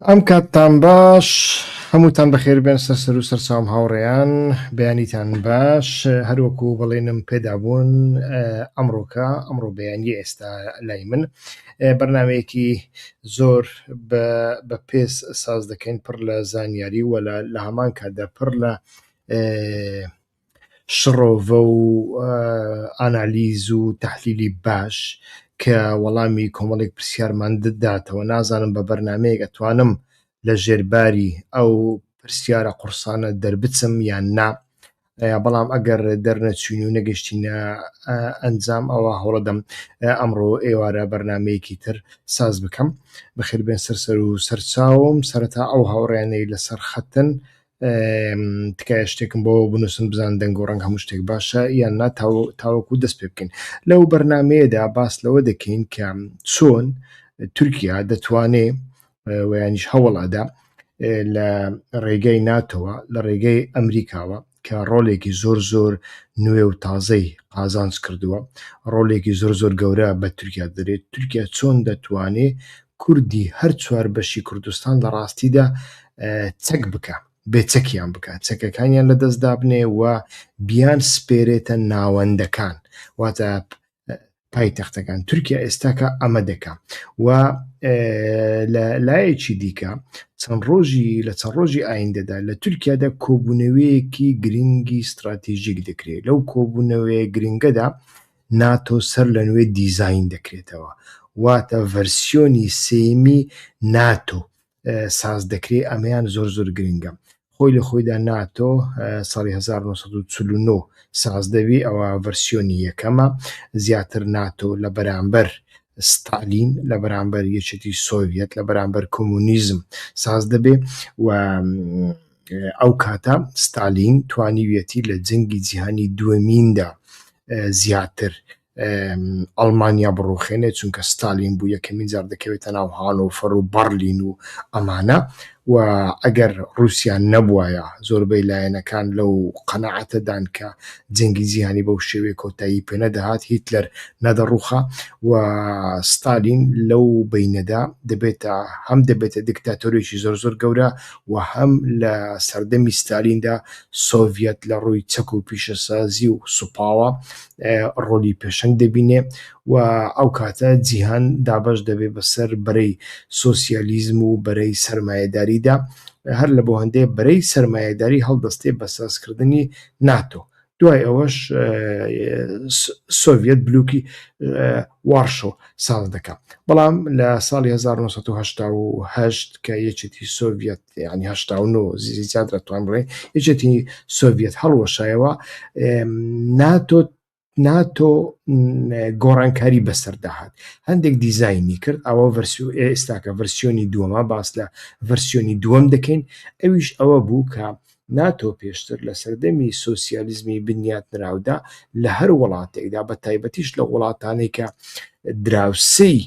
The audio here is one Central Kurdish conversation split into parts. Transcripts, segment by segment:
ئەم کاتتان باش هەمووتان بەخێربێن سەر سەر و سەرچاوم هاوڕێیان بەیانیتان باش هەروەکو بەڵێنم پێدابوون ئەمڕۆکە ئەمڕۆ بەیانی ئێستا لای من بەرنمەیەکی زۆر بە پێس ساز دەکەین پڕ لە زانیاری وەلا لە هەمان کاتدا پڕ لە شڕۆڤە و ئانالیز و تەحلیلی باش کە وەڵامی کۆمەڵێک پرسیارمان داتەوە نازانم بە بەرنامەیەک ئەتوانم لە ژێر باری ئەو پرسیارە قوڕسانە دەربچم یان نا بەڵام ئەگەر دەرنەچوین و نەگەشتینە ئەنجام ئەوە هەوڵەدەم ئەمڕۆ ئێوارە بەرنمەیەکی تر ساز بکەم بەخێربێن سەر سەر و سەرچاوم سەرەتا ئەو هاوڕێیانەی لەسەر خەتن تکایە شتێکم بۆ بنووسن بزان دەنگ و ڕەنگ هەموو شتێک باشە یان نا تاوەکو دەست پێ بکەین لەو بەرنمەیەدا باس لەوە دەکەین کە چۆن تورکیا دەتوانێ ویانیش هەوڵ ئەدا لە ڕێگەی ناتەوە لە ڕێگەی ئەمریکاوە کە ڕۆلێکی زۆر زۆر نوێ و تازەی قازانج کردووە ڕۆلێکی زۆر زۆر گەورە بە تورکیا دەرێت تورکیا چۆن دەتوانێت کوردی هەر چوار بەشی کوردستان لە ڕاستیدا چەک بکا، بێ چەکیان بکا، چەکەکانیان لە دەست دابنێ و بیان سپێرێتە ناوەندەکان، واتە پایتەختەکان، تورکیا ئێستاکە ئەمە دەکا و لە لایەکی دیکە چەند ڕۆژی لە چەند ڕۆژی ئایندەدا لە تورکیادا کۆبوونەوەیەکی گرنگی ستراتیژیک دەکرێت لەو کۆبوونەوەیە گرنگەدا ناتۆ سەر لە نوێ دیزاین دەکرێتەوە، واتە ڤەرسیۆنی سێیەمی ناتۆ ساز دەکرێت، ئەمەیان زۆر زۆر گرنگە. خۆی لە خۆیدا ناتۆ ساڵی هەزار و نۆ سەد و چل و نۆ ساز دەبی، ئەوە ڤەرسیۆنی یەکەمە، زیاتر ناتۆ لە بەرامبەر ستالین، لە بەرامبەر یەکێتی سۆڤیەت، لە بەرامبەر کۆمۆنیزم ساز دەبێت و ئەو کاتە ستالین توانیویەتی لە جەنگی جیهانی دووەمیندا زیاتر ئەڵمانیا بڕوخێنێت چونکە ستالین بوو یەکەمین جار دەکەوێتە ناو هانۆفەر و بەرلین و ئەمانە و ئەگەر رووسیان نەبوایە زۆربەی لایەنەکان لەو قەنەعەتەدان کە جەنگی جیهانی بەو شێوێ کۆتایی پێ نەدەهات هیتلەر نەدەڕوخا و ستالین لەو بینەدا دەبێتە هەم دەبێتە دیکتاتۆرێکی زۆر زۆر گەورە و هەم لە سەردەمی ستالیندا سۆڤیەت لە ڕووی چەک و پیشەسازی و سوپاوە ڕۆلی پێشەنگ دەبینێ و ئەو کاتە جیهان دابەش دەبێ بەسەر بەرەی سۆسیالیزم و بەرەی سەرمایەداریدا هەر لە بۆ هەندێ بەرەی سەرمایەداری هەڵدەستێ بە سازکردنی ناتۆ دوای ئەوەش سۆڤەت بلووکی وارشۆ ساز دەکات بەڵام لە ساڵی 1970 کە یەکێتی سۆڤەت ینی زیاد دەتوان بڵێ یەکێتی سۆڤەت هەڵوەشایەوە ناتۆ ناتۆ گۆڕانکاری بەسەرداهات هەندێک دیزایانی کرد ئەوە ڤەرسو ئێستاکە ڤەرسیۆنی دووەمە باس لە ڤەرسیۆنی دووەم دەکەین ئەویش ئەوە بوو کە ناتۆ پێشتر لە سەردەمی سۆسیالیزمی بنیاتنراودا لە هەر وڵاتێکدا بە تایبەتیش لە وڵاتانێک کە دراوسەی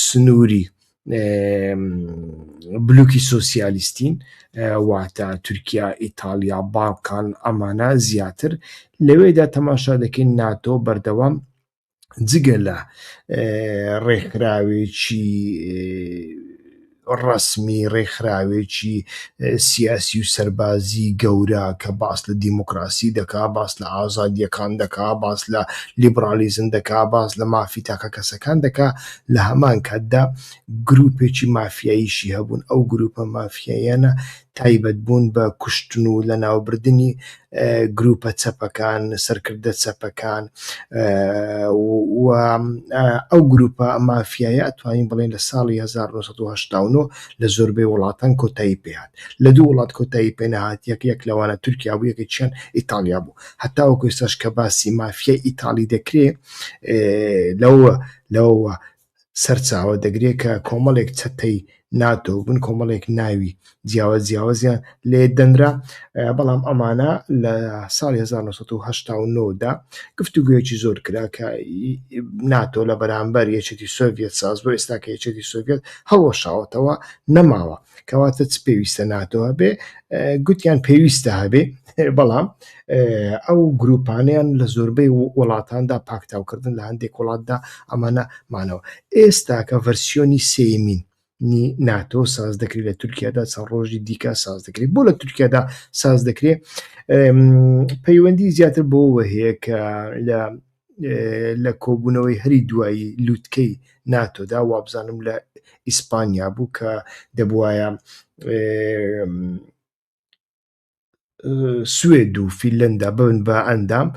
سنووری بلوکی سوسیالیستین واتە تورکیا ئیتالیا باڵکان ئەمانە زیاتر لەوێدا تەماشا دەکەین ناتۆ بەردەوام جگە لە ڕێکخراوێکی ڕسمی ڕێکخراوێکی سیاسی و سەربازی گەورە کە باس لە دیموکراسی دەکا باس لە ئازادیەکان دەکا باس لە لیبرالیزم دەکا باس لە مافی تاکە کەسەکان دەکا لە هەمان کاتدا گروپێکی مافیاییشی هەبوون ئەو گروپە مافیایەنە تایبەت بوون بە کوشتن و لەناوبردنی گروپە چەپەکان، سەرکردە چەپەکان و ئەو گروپە مافیایە ئەتوانین بڵێن لە ساڵی هەزار و نۆ سەد و هەشتا و نۆ لە زۆربەی وڵاتان کۆتایی پێ هات. لە دوو وڵات کۆتایی پێ نەهات یەک یەک لەوانە تورکیا بوو یەکێکیشیان ئیتاڵیا بوو. هەتاوەکو ئێستاش کە باسی مافیای ئیتاڵی دەکرێ لەوە لەوەوە سەرچاوە دەگرێت کە کۆمەڵێک چەتەی ناتۆ بن کۆمەڵێک ناوی جیاوە جیاوازیان لێ دەنرا بەڵام ئەمانە لە ساڵ 1970دا گفتوگویەکی زۆر کرا کە ناتۆ لە بەرامبەر یەکێتی سۆڤێت ساز بۆ ئێستا کە یەکێتی سۆڤێت هەڵوەشاوەتەوە نەماوە کەواتە چ پێویستە ناتۆ هەبێ گوتیان پێویستە هەبێ بەڵام ئەو گروپانیان لە زۆربەی وڵاتاندا پاکتاوکردن لە هەندێک وڵاتدا ئەمانە مانەوە ئێستا کە ڤەرسیۆنی سێمین ناتۆ ساز دەکرێت لە تورکیادا چەند ڕۆژی دیکە ساز دەکرێت بۆ لە تورکیادا ساز دەکرێت پەیوەندی زیاتر بۆ وەهەیە کە لە لە کۆبوونەوەی هەری دوایی لووتکەی ناتۆدا وابزانم لە ئیسپانیا بوو کە دەبواە سوێد و فیلەندا بن بە ئەندام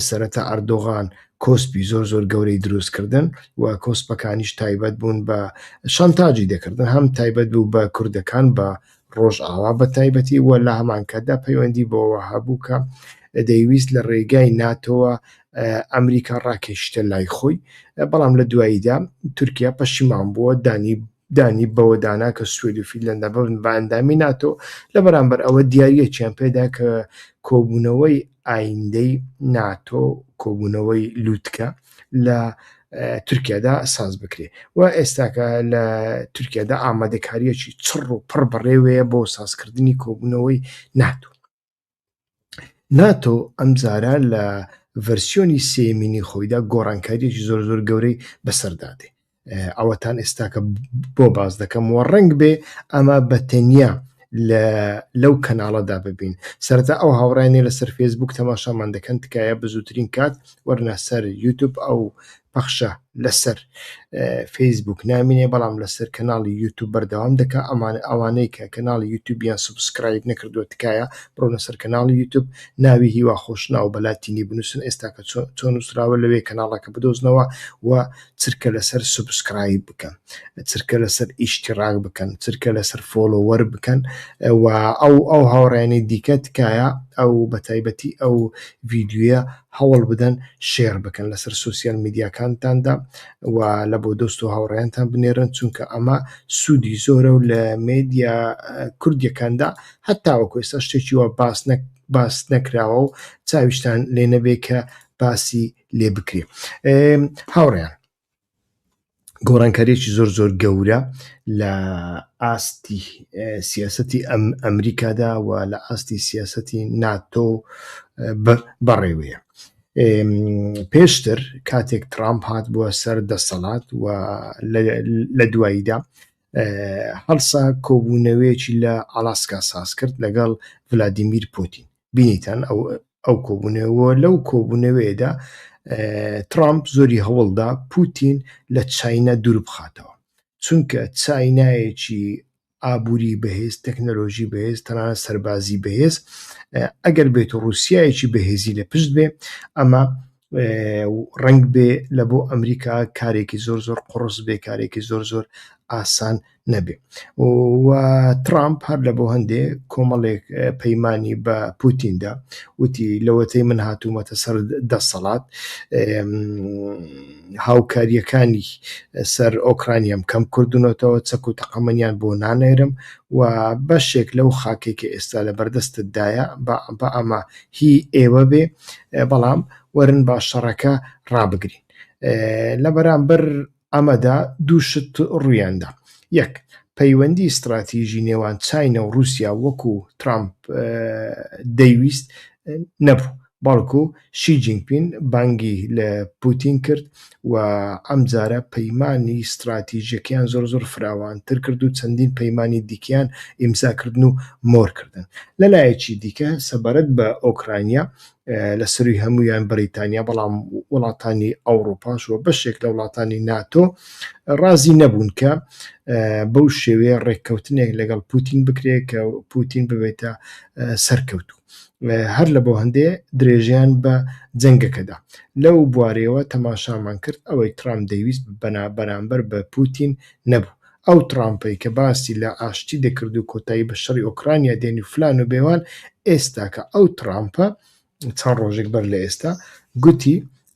سەرەتا ئەردۆغان کۆسپی زۆر زۆر گەورەی دروستکردن و کۆسپەکانیش تایبەت بوون بە شانتاجی دەکردن هەم تایبەت بوو بە کوردەکان بە ڕۆژئاوا بە تایبەتی و لە هەمانکاتدا پەیوەندی بەوەوە هەبوو کە دەیویست لە ڕێگای ناتۆوە ئەمریکا ڕاکێشیتە لای خۆی، بەڵام لە دواییدا تورکیا پەشیمان بووە دانی دانی بەوەدانا کە سوێد و فیلەندا ببن بە ئەندامی ناتۆ، لە بەرامبەر ئەوە دیارییەکیان پێدا کە کۆبوونەوەی ئایندەی ناتۆ کۆبوونەوەی لوتکە، لە تورکیادا ساز بکرێ و ئێستاکە لە تورکیادا ئامادەکاریەکی چڕ و پڕ بەڕێوەیە بۆ سازکردنی کۆبوونەوەی ناتۆ ناتۆ ئەم زارە لە ڤەرسیۆنی سێمینی خۆیدا گۆڕانکاریەکی زۆر زۆر گەورەی بەسەردادێ ئەوەتان ئێستاکە بۆ باس دەکەم و ڕنگ بێ ئەمە بە تەنیا لەو کەناڵەدا ببین سەرتا ئەو هاوڕانێ لەسەر فێسبوک تەماشامان دەکەن تکایە بزووترین کات وەرنە سەر یوتوب ئەو پەخشە لەسەر فەیسبوک نامینێ بەڵام لەسەر کەناڵی یوتوب بەردەوام دەکە ئەمان ئەوانەی کە کەناڵی یوتوبیان سبسکرایب نەکردو تکایە بڕۆنە سەر کەناڵی یوتوب ناوی هیوا خۆشناو بەلاتینی بنووسن ئێستاکە چۆن نووسراوە لەوێ کەناڵەکە بدۆزنەوە و چرکە لەسەر سوبسکرایب بکەن چرکە لەسەر ئیشتیڕاک بکەن چرکە لەسەر فۆڵۆوەر بکەن و ئەو ئەو هاوڕێیانی دیکە تکایە ئەو بەتایبەتی ئەو ڤیدیۆیە هەوڵ بدەن شێر بکەن لەسەر سۆسیال میدیاکانتاندا و لە بۆ دۆست و هاوڕێیانتان بنێرن چونکە ئەمە سوودی زۆرە و لە مێدیا کوردیەکاندا هەتاوەکو ئێستا شتێکی وا باس نەک باس نەکراوە و چاویشتان لێ نەبێ کە باسی لێ بکرێ هاوڕێیان گۆڕانکاریی زۆر زۆر گەورە لە ئاستی سیاستی ئەم ئەمریکادا و لە ئاستی سیاستی ناتۆ بەڕێوەیە پێشتر کاتێک ترامپ هات بووە سەر دەسەڵات و لە دواییدا هەڵسا کۆبوونەوەیەکی لە ئالاسکا ساز کرد لەگەڵ ولادیمیر پوتین بینیتان ئەو ئەو کۆبوونەوە لەو کۆبوونەوەیەدا ترامپ زۆری هەوڵدا پوتین لە چینە دوور بخاتەوە چونکە چینایەکی ئابووری بەهێز تەکنەلۆژی بەهێز تەنان سەربازی بەهێز ئەگەر بێت و رووسایەکی بەهێزی لە پشت بێ ئەمە ڕەنگ بێ لە بۆ ئەمریکا کارێکی زۆر زۆر قڕس بێ کارێکی زۆر زۆر ئاسان نەبێ و ترامپ هەر لە بۆ هەندێ کۆمەڵێک پەیمانانی بە پوتیندا وتی لەوەتەی من هاتوومەتە سەر دەسەڵات هاوکاریەکانی سەر ئۆکرانیام کەم کردونەتەوە چەک و تەقەمەنیان بۆ نانێرم و بەشێک لەو خاکێکی ئێستا لە بەردەستتدایە بە ئەمە هی ئێوە بێ بەڵام وەرن با شەڕەکە ڕابگرین. لە بەرامبەر ئەمەدا دوو شت ڕوویاندا، یەک، پەیوەندی ستڕاتیژی نێوان چاینا و ڕووسیا وەکو ترامپ دەیویست نەبوو، بەڵکو شی جینگپین بانگی لە پوتین کرد و ئەمجارە پەیمانی ستراتیژیەکەیان زۆر زۆر فراوانتر کرد و چەندین پەیمانی دیکەیان ئیمزا کردن و مۆر کردن. لە لایەکی دیکە سەبارەت بە ئۆکرانیا لە سەرووی هەموویان بەریتانیا بەڵام وڵاتانی ئەوڕوپاش و بەشێک لە وڵاتانی ناتۆ ڕازی نەبوون کە بەو شێوەیە ڕێککەوتنێک لەگەڵ پوتین بکرێت کە پوتین ببێتە سەرکەوتوو. هەر لە بۆ هەندێ درێژەیان بە جەنگەکەدا. لەو بوارەیەوە تەماشامان کرد ئەوەی ترامپ دەیویست بەرامبەر بە پوتین نەبوو. ئەو ترامپەی کە باسی لە ئاشتی دەکرد و کۆتایی بە شەڕی ئۆکرانیا دێنی و فلان و بێوان، ئێستاکە ئەو ترامپە، چەند ڕۆژێک بەر لە ئێستا گوتی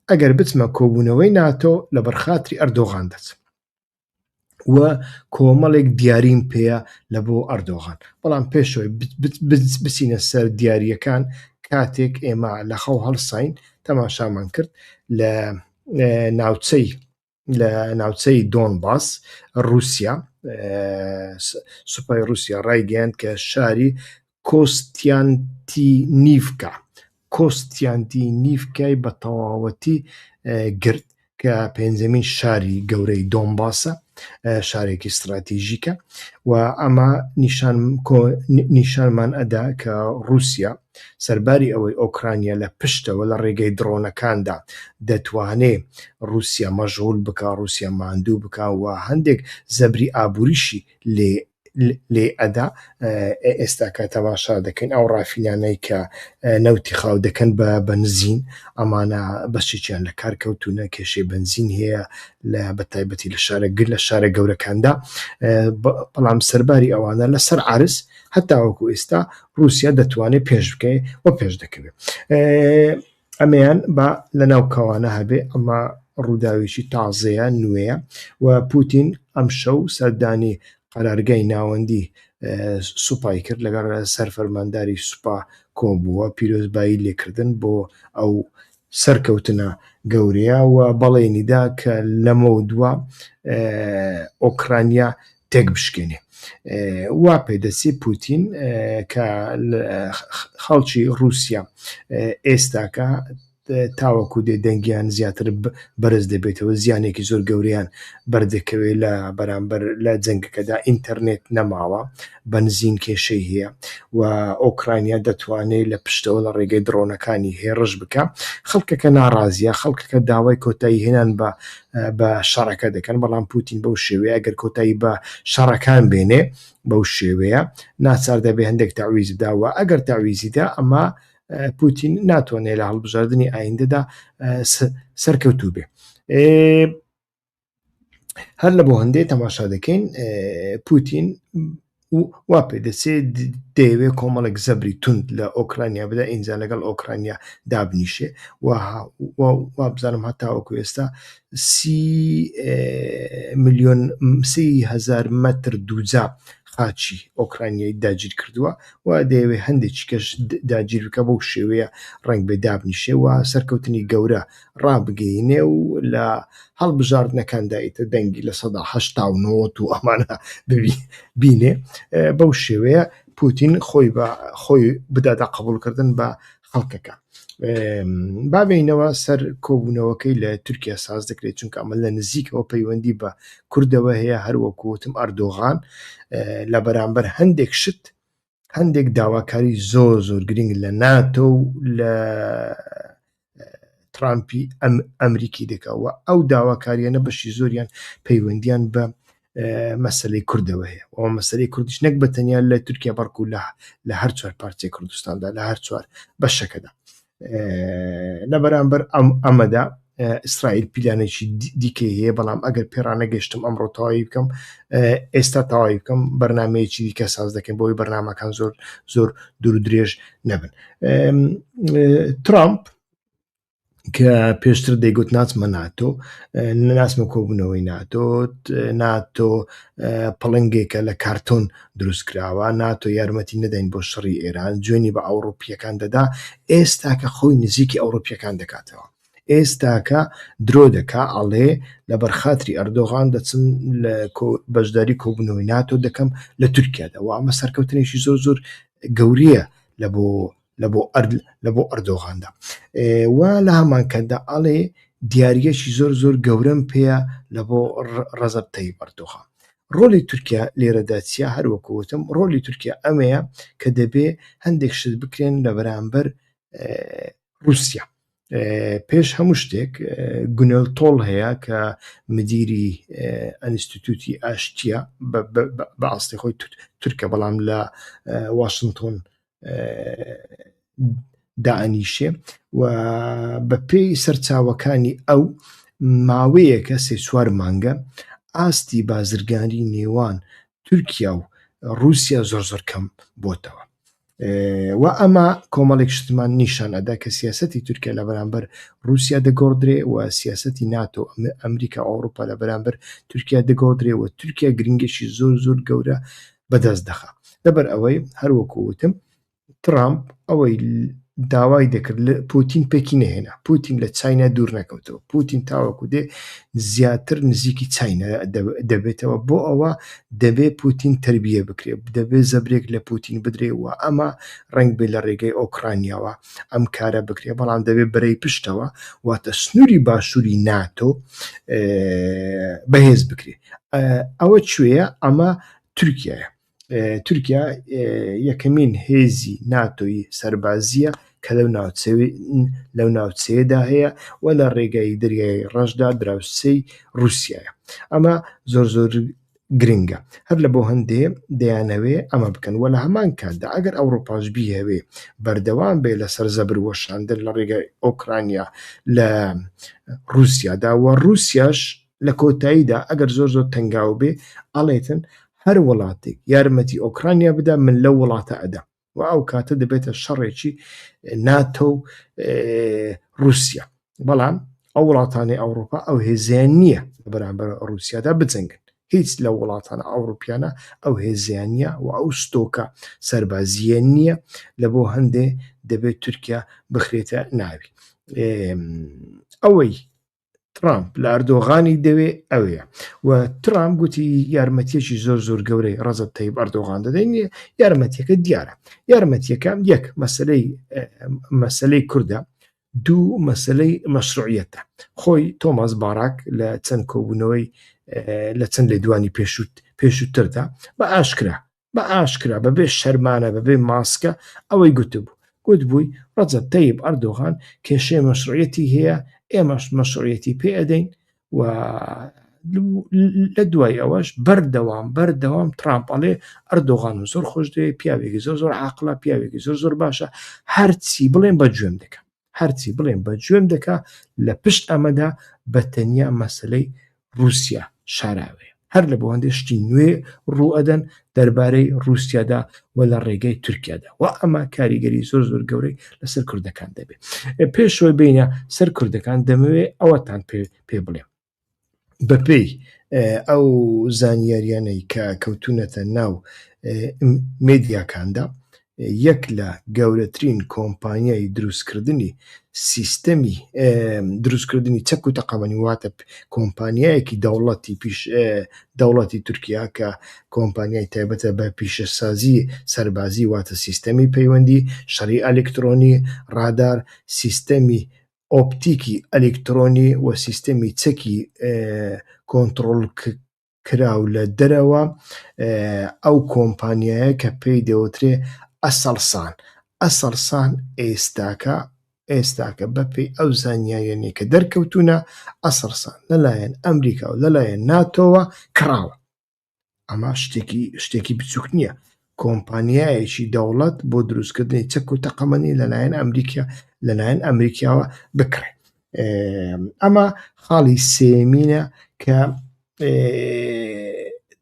ئەگەر بچمە کۆبوونەوەی ناتۆ لەبەر خاتری ئەردۆغان دەچم. و کۆمەڵێک دیاریم پێەیە لە بۆ ئەردۆغان بەڵام پێشەوەی بچینە سەر دیارریەکان کاتێک ئێمە لە خەو هەڵساین تەماشامان کرد لە ناوچەی لە ناوچەی دۆن باس رووسیا سوپای رووسیا ڕایگەیاند کە شاری کۆستیانتینیڤکا، کۆستیانتینیڤکای بە تەواوەتی گرت، کە پێنجەمین شاری گەورەی دۆنباسە، شارێکی ستراتیژیکە و ئەمە نیشانمان ئەدا کە ڕووسیا سەرباری ئەوەی ئۆکرانیا لە پشتەوە لە ڕێگەی دڕۆنەکاندا دەتوانێ ڕووسیا مەژغوول بکا، ڕووسیا ماندوو بکا و هەندێک زەبری ئابووریشی لێ لێ ئەدا ئێستا کە تەماشا دەکەین ئەو ڕافینانەی کە نەوتی خاو دەکەن بە بەنزین ئەمانە بەشێکیان لە کار کەوتونە کێشەی بەنزین هەیە لە بەتایبەتی لە شارە گر لە شارە گەورەکاندا بەڵام سەرباری ئەوانە لەسەر عرس هەتاوەکو ئێستا رووسیا دەتوانێت پێش بکەێت و پێش دەکەوێت ئەمەیان با لە ناو کەوانە هەبێ ئەمە ڕووداوێکی تازەیە نوێیە و پوتین ئەم شەو سەردانی قەرارگای ناوەندی سوپای کرد لەگەڵ سەر فەرمانداری سوپا کۆبووە پیرۆزبایی لێکردن بۆ ئەو سەرکەوتنە گەورەیە و بەڵێنیدا کە لەمە دووە ئۆکرانیا تێکبشکێنێ وا پێدەچێ پوتین کە خەڵکی ڕووسیا ئێستاکە تاوەکو دێ دەنگیان زیاتر بەرز دەبێتەوە زیانێکی زۆر گەوریان بەردەکەوێت لە بەرامبەر لە جەنگەکەدا ئینتەرنێت نەماوە بەنزین کێشەی هەیە و ئۆکرانیا دەتوانێت لە پشتەوە لە ڕێگەی دڕۆنەکانی هێڕش بکە خەڵکەکە ناڕازیە خەڵکەکە داوای کۆتایی هێنان بە بە شەڕەکە دەکەن، بەڵام پوتین بەو شێوەیە گەر کۆتایی بە شەڕەکان بێنێ بەو شێوەیە ناچار دەبێ هەندێک تەعویز بدا و ئەگەر تەعویزی دا ئەما پوتین ناتوانێ لە هەڵبژاردنی ئایندەدا سەرکەوتوو بێ. هەر لە بۆ هەندێ تەماشا دەکەین پوتین و وا پێ دەچێ دەیەوێ کۆمەڵێک زەبری توند لە ئۆکرانیا بدا ئینجا لەگەڵ ئۆکرانیا دابنیشێ وابزانم هەتاوەکو ئێستا سی میلیۆن سی هزار مەتر دووجا خاچی ئۆکرانیای داگیر کردووە و دەیەوێ هەندێکی کەش داگیر بکە بەو شێوەیە ڕنگ بێ دابنیشێ و سەرکەوتنی گەورە ڕابگەینێ و لە هەڵبژاردنەکاندا ئیتر دەنگی لە سەدا هەشتا و نۆت و ئەمانە بینێ بەو شێوەیە پوتین خۆی بە خۆی بداتە قبولکردن بە خەڵکەکە بابینەوە سەر کۆبوونەوەکەی لە تورکیا ساز دەکرێت چونکە ئەمە لە نزیکەوە پەیوەندی بە کوردەوە هەیە هەروەکوتم ئەردۆغان لە بەرامبەر هەندێک شت هەندێک داواکاری زۆر زۆر گرنگ لە ناتۆ و لە ترامپی ئەم ئەمریکی دەکەوە ئەو داواکاریانە بەشی زۆریان پەیوەندیان بە مەسلەی کوردەوە هەیە ئەو مەسلەی کوردش نەک بە تەنیا لە تورکیا بەڕکو لە لە هەر چوار پارچەی کوردستاندا لە هەر چوار بەشەکەدا لەبەرامبەر ئەمەدا ئیسرائیل پیلانێکی دیکەی هەیە بەڵام ئەگەر پێڕانە گەشتم ئەمڕۆ تەواوی بکەم ئێستا تەواوی بکەم بەرنمەیەکی دیکە ساز دەکەم بۆی بەرنمەکان زۆر زۆر دوور درێژ نەبن ترامپ کە پێشتر دەیگوت ناچمە ناتۆ ناسمە کۆبوونەوەی ناتۆ ناتۆ پڵنگێکە لە کارتۆن دروستکراوە ناتۆ یارمەتی نەدەین بۆ شەڕی ئێران جوێنی بە ئەوڕوپییەکان دەدا ئێستاکە خۆی نزیکی ئەوڕوپییەکان دەکاتەوە ئێستاکە درۆ دەکا ئەڵێ لە بەرخاتری ئەردۆغان دەچم لە بەشداری کۆبنەوەی ناتۆ دەکەم لە تورکیادا و ئەمە سەرکەوتنێکی زۆر زۆر گەوریە لە بۆ لە بۆ ئەرد لە بۆ ئەردۆغاندا و لە هەمانکەدا ئەڵێ دیارگەشی زۆر زۆر گەورەم پێەیە لە بۆ ڕەزب تەی بەردۆخە ڕۆلی تورکیا لێرەدا چیا هەروەکوتم ڕۆلی تورکیا ئەمەیە کە دەبێ هەندێک شت بکرێن لە بەرامبەر رووسیا پێش هەموو شتێک گونەل تۆڵ هەیە کە مدیری ئەنیستیتوتی ئاشتیە بە ئاستی خۆی تورکە بەڵام لە واشنگتۆن دائەنیشێ و بە پێی سەرچاوەکانی ئەو ماوەیەکە سێ چوار مانگە ئاستی بازرگانی نێوان تورکیا و رووسیا زۆر زۆر کەم بۆتەوە و ئەمە کۆمەڵێک شتمان نیشان ئەدا کە سیاستی تورکیا لە بەرامبەر رووسیا دەگۆڕدرێ و سیاستی ناتۆ ئەمریکا ئەوروپا لە بەرامبەر تورکیا دەگۆڕدرێ و تورکیا گرنگێکی زۆر زۆر گەورە بەدەست دەخا لەبەر ئەوەی هەروەکو وتم ترامپ ئەوەی داوای دەکرد لە پوتین پێکی نهێنا پوتین لە چاینا دوور نەکەوتەوە پوتین تاوەکو دێ زیاتر نزیکی چاینا دەبێتەوە بۆ ئەوە دەبێ پوتین تربیە بکرێ دەبێ زەبرێک لە پوتین بدرێ و ئەمە ڕنگ بێ لە ڕێگەی ئۆکرانیاوە ئەم کارە بکرێ بەڵام دەبێ برەی پشتەوە واتە سنووری باشووری ناتۆ بەهێز بکرێت ئەوە کوێیە ئەمە تورکیایە تورکیا یەکەمین هێزی ناتۆی سەربازیە کە لەو لەو ناوچەیەدا هەیە و لە ڕێگای دەریای ڕەشدا دراوسەی رووسایە ئەمە زۆر زۆر گرنگە هەر لە بۆ هەندێ دەیانەوێ ئەمە بکەن وە لە هەمان کاتدا ئەگەر ئەوروپاش بیهوێ بەردەوام بێ لەسەر زەبر وەشاندن لە ڕێگای ئۆکرانیا لە رووسیادا وە رووسیاش لە کۆتاییدا ئەگەر زۆر زۆر تەنگاو بێ ئەڵێتن هەر وڵاتێک یارمەتی ئۆکرانیا بدا من لەو وڵاتە ئەدەم و ئەو کاتە دەبێتە شەڕێکی ناتۆ و رووسیا بەڵام ئەو وڵاتانی ئەوروپا ئەو هێزیان نییە لە بەرامبەر رووسیادا بجەنگن هیچ لە وڵاتانە ئەوروپیانە ئەو هێزیانە و ئەو ستۆکە سربازیە نییە لە بۆ هەندێ دەبێت تورکیا بخرێتە ناوی ئەوەی ترامپ لە ئەردۆغانی دەوێ ئەوێ و ترام گوتی یارمەتیەکی زۆر زۆر گەورەی ڕزت تەیب ئەردۆغان دەدەین یارمەتیەکە دیارە یارمەتیەکە یەک مەسلەی مەسلەی کووردە دوو مەسلەی مەشروعەتە خۆی تۆماس باراک لە چەند کۆبوونەوەی لە چەند لێ دوانی پێشوت پێشووتردا بە ئاشکرا بە ئاشکرا بەبێ شەرمانە بەبێ ماسکە ئەوەی گوتبوو گوتبووی ڕەجەب تەیب ئەردۆغان کێشێ مەشڕەتی هەیە ئێمەش مەشڕەتی پێ ئەدەین و لە دوای ئەوەش بەردەوام بەردەوام ترامپەڵێ ئەردۆغان و زۆر خۆش دەوێ پیاوێکی زۆر زۆر عقلە پیاوێکی زۆر زۆر باشە هەرچی بڵێن بە گوێم دەکەم هەرچی بڵێم بە جوێم دەکا لە پشت ئەمەدا بە تەنیا مەسلەی رووسیا شاراوەیە هەر لە بۆندێ شتی نوێ ڕوئەدەن دەربارەی رووسیادا و لە ڕێگەی تورکیادا و ئەمە کاریگەری زۆر زۆر گەورەی لەسەر کوردەکان دەبێت پێشەوەی بینە سەر کوردەکان دەمەوێت ئەوەتان پێ پێ بڵێم بەپێی ئەو زانیاریانەی کە کەوتونەتە ناو مدیاکاندا یەک لە گەورەترین کۆمپانیای دروستکردنی سیستەمی دروستکردنی چەک و تەقەمەنی واتە کۆمپانیایەکی دەوڵەتی پیش دەوڵەتی تورکیا کە کۆمپانیای تایبەتە بە پیشەسازی سەربازی واتە سیستەمی پەیوەندی شەڕی ئەلکترۆنی ڕادار سیستەمی ئۆپتیکی ئەلیکترۆنی و سیستەمی چەکی کۆنتڕۆڵکراو لە دەرەوە، ئەو کۆمپانیایە کە پێی دەوترێ ئەسڵسان، ئەسڵسان ئێستاکە ئێستاکە بە پێی ئەو زانیاریانەی کە دەرکەوتوونە ئەسڵسان لەلایەن ئەمریکا و لەلایەن ناتۆوە کڕاوە. ئەمە شتێکی شتێکی بچووک نییە کۆمپانیایەکی دەوڵەت بۆ دروستکردنی چەک و تەقەمەنی لەلایەن ئەمریکا لەلایەن ئەمریکاوە بکڕێت ئەمە خاڵی سێمینە کە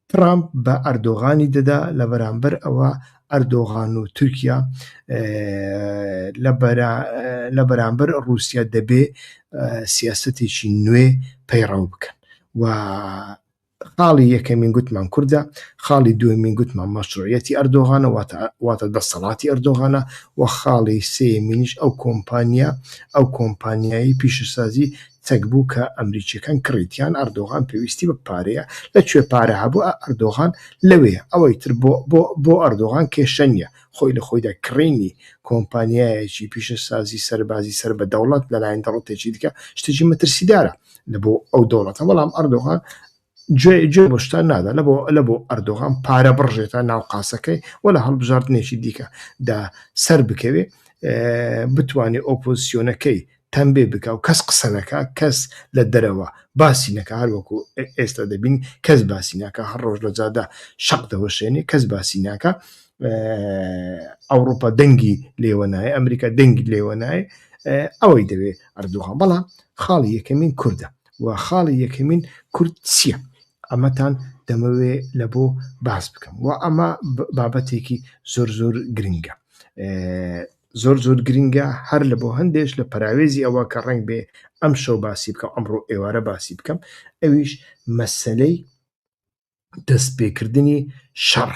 ترامپ بە ئەردۆغانی دەدا لە بەرامبەر ئەوە ئەردۆغان و تورکیا لە بەرامبەر رووسیا دەبێ سیاستێکی نوێ پەیڕەو بکەن و خاڵی یەکەمین گوتمان کوردە، خاڵی دووەمین گوتمان مەشروعیەتی ئەردۆغانە واتە واتە دەسەڵاتی ئەردۆغانە و خاڵی سێیەمینیش ئەو کۆمپانیا ئەو کۆمپانیایەی پیشەسازی چەک بوو کە ئەمریکیەکان کڕیتیان ئەردۆغان پێویستی بە پارەیە لە کوێ پارە هەبوو ئەردۆغان لەوێ ئەوەی تر بۆ بۆ بۆ ئەردۆغان کێشە نیە خۆی لە خۆیدا کڕینی کۆمپانیایەکی پیشەسازی سەربازی سەر بە دەوڵەت لەلایەن دەوڵەتێکی دیکە شتێکی مەترسیدارە لە بۆ ئەو دەوڵەتە بەڵام ئەردۆغان جێ جێ بۆ شتان نادا لە بۆ لە بۆ ئەردۆغان پارە بڕژێتە ناو قاسەکەی و لە هەڵبژاردنێکی دیکە دا سەر بکەوێ بتوانێت ئۆپۆزیسیۆنەکەی تەمبێ بکە و کەس قسە نەکە کەس لە دەرەوە باسی نەکە هەروەکو ئێستا دەبین کەس باسی ناکە هەر ڕۆژ لە جادا شەق دەوەشێنێ کەس باسی ناکە ئەوروپا دەنگی لێوەنایە ئەمریکا دەنگی لێوەنایە ئەوەی دەوێت ئەردوغان بەڵام خاڵی یەکەمین کوردە و خاڵی یەکەمین کورد چیە ئەمەتان دەمەوێ لە بۆ باس بکەم و ئەمە بابەتێکی زۆر زۆر گرنگە زۆر زۆر گرنگە هەر لە بۆ هەندێش لە پراوێزی ئەوە کە ڕنگ بێ ئەم شەو باسی بکەم ئەمڕۆ ئێوارە باسی بکەم ئەویش مەسلەی دەستپێکردنی شەڕ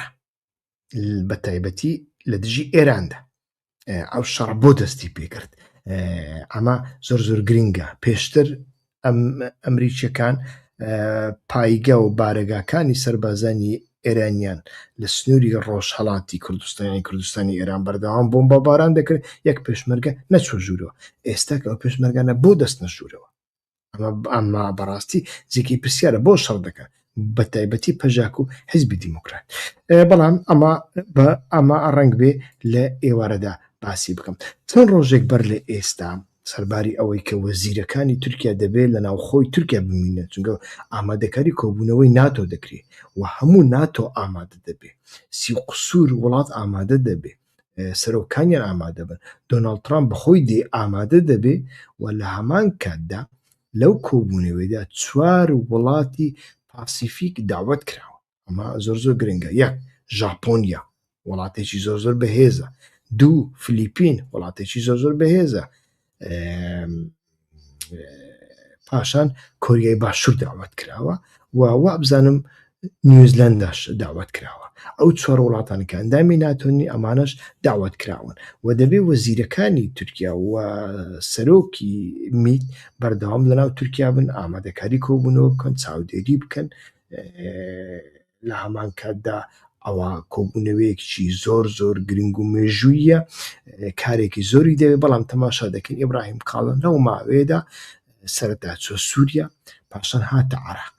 بە تایبەتی لە دژی ئێراندا ئەو شەڕ بۆ دەستی پێکرد ئەمە زۆر زۆر گرنگە پێشتر ئەم ئەمریکیەکان پایگە و بارەگاکانی سربازانی ئێرانیان لە سنووری ڕۆژهڵاتی کوردستانی کوردستانی ئێران بەردەوام بۆم بە باران دەکرد یەک پێشمەرگە نەچوە ژوورەوە ئێستا ئەو پێشمەرگانە بۆ دەستنە ژوورەوە ئەمە ئەمە بەڕاستی جێکی پرسیارە بۆ شەڕ دەکات بە تایبەتی پەژاک و حزبی دیموکرات بەڵام ئەمە بە ئەمە ڕنگ بێ لە ئێوارەدا باسی بکەم چەند ڕۆژێک بەر لە ئێستا سەرباری ئەوەی کە وەزیرەکانی تورکیا دەبێت لە ناوخۆی تورکیا بمینە چونگە ئامادەکاری کۆبوونەوەی ناتۆ دەکرێت و هەموو ناتۆ ئامادە دەبێت سی قسوور وڵات ئامادە دەبێت سەرۆکانیان ئامادە بن دۆناڵد ترامپ بەخۆی دێ ئامادە دەبێ و لە هەمان کاتدا لەو کۆبوونەوەیدا چوار وڵاتی پاسیفیک داوت کراوە ئەمە زۆر زۆر گرنگە یەک ژاپۆنیا وڵاتێکی زۆر زۆر بەهێزە دوو فلیپین وڵاتێکی زۆر زۆر بەهێزە پاشان کۆریای باشوور داوات کراوە و وابزانم نیوزلنداش داوات کراوە ئەو چوار وڵاتانی کە ئەندامی ناتۆنی ئەمانەش داوات کراون و دەبێ وەزیرەکانی تورکیا و سەرۆکی میت بەردەوام لەناو تورکیا بن ئامادەکاری کۆبوونەوە بکەن چاودێری بکەن لە هەمان کاتدا ئەوە کۆبوونەوەیەکیی زۆر زۆر گرنگ و مێژووییە کارێکی زۆری دەوێت بەڵام تەماشا دەکەین ئیبراهیم کاڵن لەو ماوەیەدا سەرەتا چوە سووریا پاشان هاتە عراق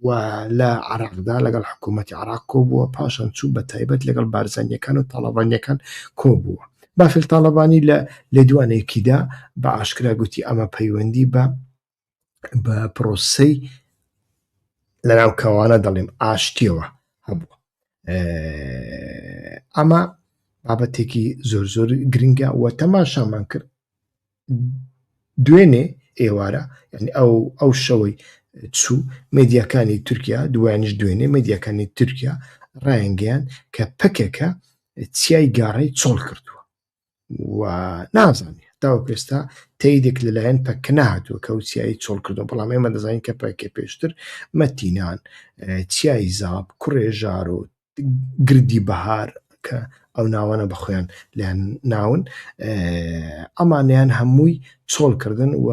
و لە عراقدا لەگەڵ حکوومەتتی عراق کۆبووە پاشان چوو بە تایبەت لەگەڵ بارزانیەکان و تاڵەبانیەکان کۆبووە بافل تاالبانی لە لێدوانێکیدا بە ئاشکرا گوتی ئەمە پەیوەندی بە بە پرۆسەی لەناو کەوانە دەڵێم ئاشتیەوە هەبوو ئەمە بابەتێکی زۆر زۆر گرنگە و تەماشامان کرد دوێنێ ئێوارە ینی ئەو ئەو شەوەی چوو مدیەکانی تورکیا دوایانش دوێنێ مدیەکانی تورکیا ڕایانگەیان کە پکەکە چیای گاڕی چۆڵ کردووە و نازانێت تاوە پێستا تەیدێک لەلایەن پەکە نهاتوە کە و چیایی چۆڵ کردو بەڵام ئێمە دەزانین کە پەکێ پێشتر مەتینان چیایی زاب کوڕێژار و گردی بەهار کە ئەو ناوانە بە خۆیان لەیان ناون ئەمانیان هەمووی چۆڵکردن و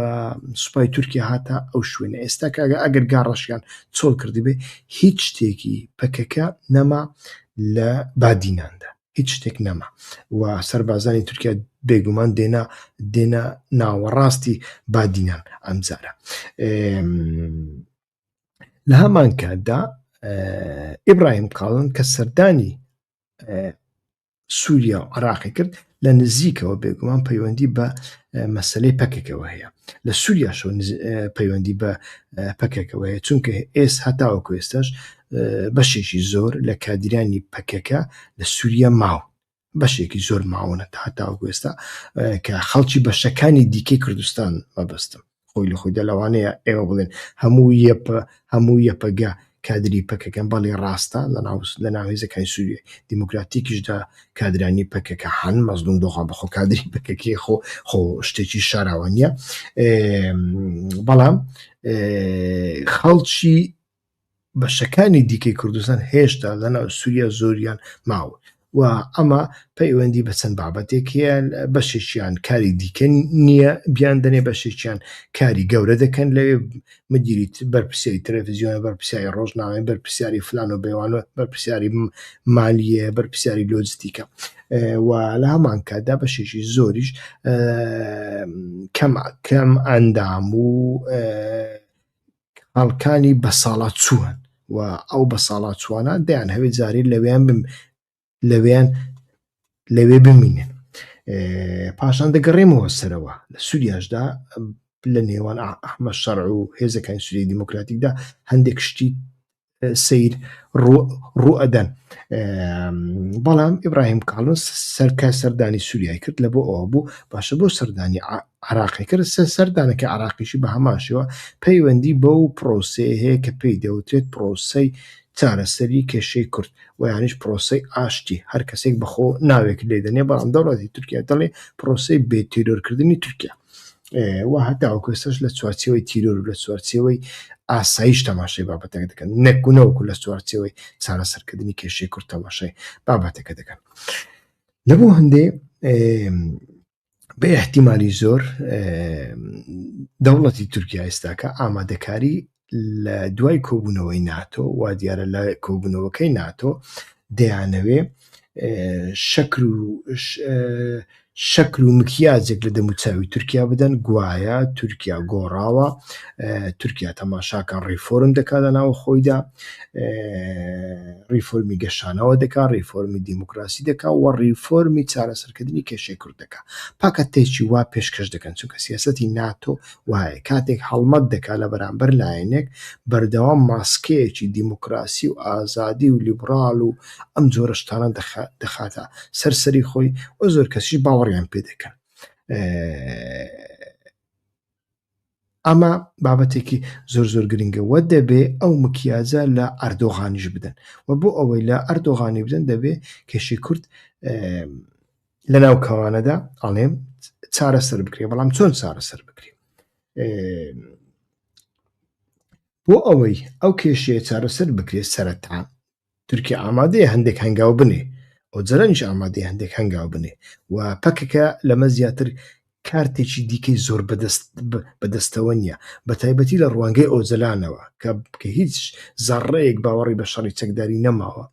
سوپای تورکیا هاتە ئەو شوێنە ئێستا کاگە ئەگەر گاڕەشیان چۆڵ کردی بێ هیچ شتێکی پەکەکە نەما لە بادیناندا هیچ شتێک نەما و سەربازانی تورکیا بێگومان دێنا دێنا ناوەڕاستی بادینان ئەمجارە لە هەمان کاتدا ئیبراهیم کاڵن کە سەردانی سووریا و عراقی کرد لە نزیکەوە بێگومان پەیوەندی بە مەسلەی پەکێکەوە هەیە لە سووریاشەوە پەیوەندی بە پەکێکەوە هەیە چونکە ئێس هەتاوە کوێستەش بەشێکی زۆر لە کادیرانی پەکەکە لە سووریا ماون بەشێکی زۆر ماونە تا تاوگوێستا کە خەڵکی بەشەکانی دیکەی کوردستان مەبەستم خۆی لە خۆیدا لەوانەیە ئێوە بڵێن هەموو یەپە هەموو یەپەگە کادری پەکەکەم بەڵێ ڕاستە لە ناوس لە ناوێزەکانی سووریە دیموکراتیکیشدا کادرانی پەکەکە حان مەزلوم دۆخان بەخۆ کادری پەکەکی خۆ خۆ شتێکی شاراوە نیە بەڵام خەڵکی بەشەکانی دیکەی کوردستان هێشتا لەناو سووریا زۆریان ماوە و ئەمە پەیوەندی بە چەند بابەتێک هەیە بەشێکیان کاری دیکە نییە بیان دەنێ بەشێکیان کاری گەورە دەکەن لەوێ مدیریت بەرپرسیاری تەلەفزیۆن بەرپرسیاری ڕۆژنامەی بەرپرسیاری فلان و بەوان و بەرپرسیاری مالیە بەرپرسیاری لۆجستیکە و لە هەمان کاتدا بەشێکی زۆریش کەم کەم ئەندام و خاڵکانی بەساڵاچووان و ئەو بەساڵاچووانە دەیانهەوێت جارێ لەوێیان بم لەوێیان لەوێ بمینن پاشان دەگەڕێمەوە سەرەوە لە سووریاشدا لە نێوان ئەحمە شەڕ و هێزەکانی سووری دیموکراتیکدا هەندێک شتی سیر ڕوئەدەن بەڵام ئیبراهیم کاڵۆس سەرکە سەردانی سووریای کرد لە بۆ ئەوە بوو باشە بۆ سەردانی عراقی کرد سە سەردانەکە عراقیشی بە هەماشەوە پەیوەندی بە و پرۆسەیە هەیە کە پێی دەوترێت پرۆسەی چارەسەری کێشەی کورد و یانیش پرۆسی ئاشتی هەر کەسێک بەخۆ ناوێک لێدەنێ بەڵام دەوڵەتی تورکیا دەڵێ پرۆسی بێتیرۆرکردنی تورکیا و هەتاوەکو ئێستاش لە چوارچێوەی تیرۆر و لە چوارچێوەی ئاسایش تەماشای بابەتەکە دەکەن نەکوونەوەکو لە چوارچێوەی چارەسەرکردنی کێشەی کورد تەماشای بابەتەکە دەکەن لە بۆ هەندێ بە احتیممالی زۆر دەوڵەتی تورکیا ئێستاکە ئامادەکاری لە دوای کۆبوونەوەی ناتۆ وا دیارە لە کۆبوونەوەکەی ناتۆ دەیانەوێ شەکر و شەکل و مکیاجێک لە دەموچاوی تورکیا بدەن گوایە تورکیا گۆڕاوە تورکیا تەماشاکە ڕیفۆرم دەکا لە ناوە خۆیدا ڕیفۆرمی گەشانەوە دەکا ڕیفۆرمی دیموکراسی دەکا و ڕیفۆرمی چارەسەرکردنی کێشەی کورد دەکا پاکە تێکی وا پێشکەش دەکەن چونکە سیاستی ناتۆ وایە کاتێک هەڵمەت دەکات لە بەرامبەر لایەنێک بەردەوام ماسکەیەکی دیموکراسی و ئازادی و لیبڕال و ئەم جۆرە شتانە دەخاتە سەر سەری خۆی و زۆر کەسیش باوەڕیان پێ دەکەن ئەمە بابەتێکی زۆر زۆر گرنگە وە دەبێ ئەو مکیاجە لە ئەردۆغانیش بدەن و بۆ ئەوەی لە ئەردۆغانی بدەن دەبێ کێشی کورد لەناو کەوانەدا ئەڵێم چارەسەر بکرێ بەڵام چۆن چارەسەر بکرێ بۆ ئەوەی ئەو کێشەیە چارەسەر بکرێت سەرەتا تورکیا ئامادەیە هەندێک هەنگاو بنێ ئەو جەرەنج ئامادەی هەندێک هەنگاو بنێ و پەکەکە لەمە زیاتر کارتێکی دیکەی زۆر بەدەست بەدەستەوە نییە بە تایبەتی لە ڕوانگەی ئۆزەلانەوە کە کە هیچ زەڕەیەک باوەڕی بە شەڕی چەکداری نەماوە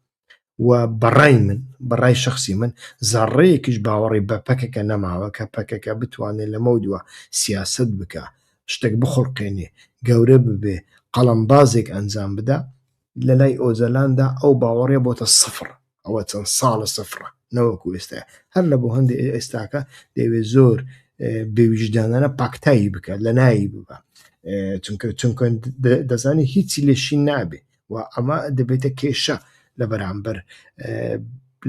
و بەڕای من بەڕای شخصی من زەڕەیەکیش باوەڕی بە پەکەکە نەماوە کە پەکەکە بتوانێت لەمە و دوا سیاسەت بکە شتێک بخوڵقێنێ گەورە ببێ قەڵەمبازێک ئەنجام بدا لەلای ئۆجەلاندا ئەو باوەڕێ بۆتە سفڕ ئەوە چەند ساڵە سفڕە نەوەکو ئێستا هەر لە بۆ هەندێ ئێستاکە دەوێت زۆر بێویژدانانە پاکتایی بکە لە نایی ببە چونکە چونکە دەزانانی هیچی لێشی نابێ و ئەمە دەبێتە کێشە لە بەرامبەر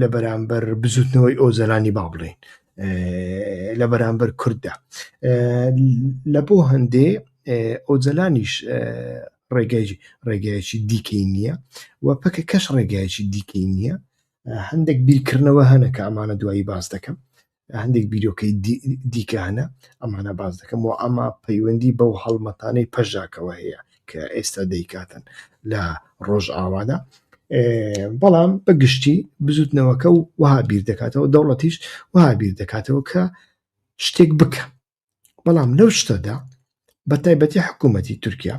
لە بەرامبەر بزوتنەوەی ئۆزەلانی با بڵێن لە بەرامبەر کورددا لە بۆ هەندێ ئۆجەلانیش ڕێگای ڕێگایکی دیکەی نییە و پەکە کەش ڕێگایکی دیکەی نییە هەندێک بیرکردنەوە هەنە کە ئەمانە دوایی باز دەکەم هەندێک بیرۆکەی دیکانە ئەمانە باز دەکەم و ئەمە پەیوەندی بەو هەڵمەتانەی پەژاکەوە هەیە کە ئێستا دەیکاتن لە ڕۆژ ئاوادا بەڵام بە گشتی بزوتنەوەکە و وها بیر دەکاتەوە دەوڵەتیش وها بیر دەکاتەوە کە شتێک بکە بەڵام لەو شتەدا بە تایبەتی حکوومەتی تورکیا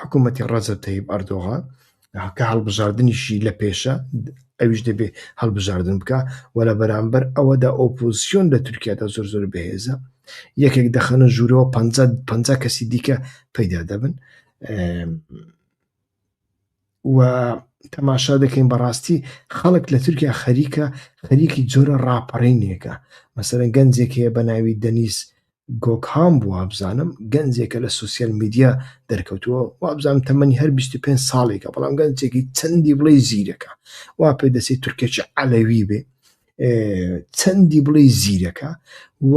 حکوومەتی ڕەزە تەیب ئەردۆغان کە هەڵبژاردنیشی لە پێشە ئەویش دەبێ هەڵبژاردن بکە و لە بەرامبەر ئەوەدا ئۆپۆزیسیۆن لە تورکیادا زۆر زۆر بەهێزە یەکێک دەخەنە ژوورەوە پ پ کەسی دیکە پەیدا دەبن و تەماشا دەکەین بەڕاستی خەڵک لە تورکیا خەریکە خەریکی جۆرە ڕاپەڕینێکە مەسەرە گەنجێک هەیە بە ناوی دەنیس گۆکهام بووە بزانم گەنجێکە لە سوسیال میدیا دەرکەوتووە وابزانم تەمەنی هەر 25 ساڵێکە بەڵام گەنجێکی چەندی بڵێ زیرەکە وا پێ دەستی تورکێکی عەلەوی بێ چەندی بڵێ زیرەکە و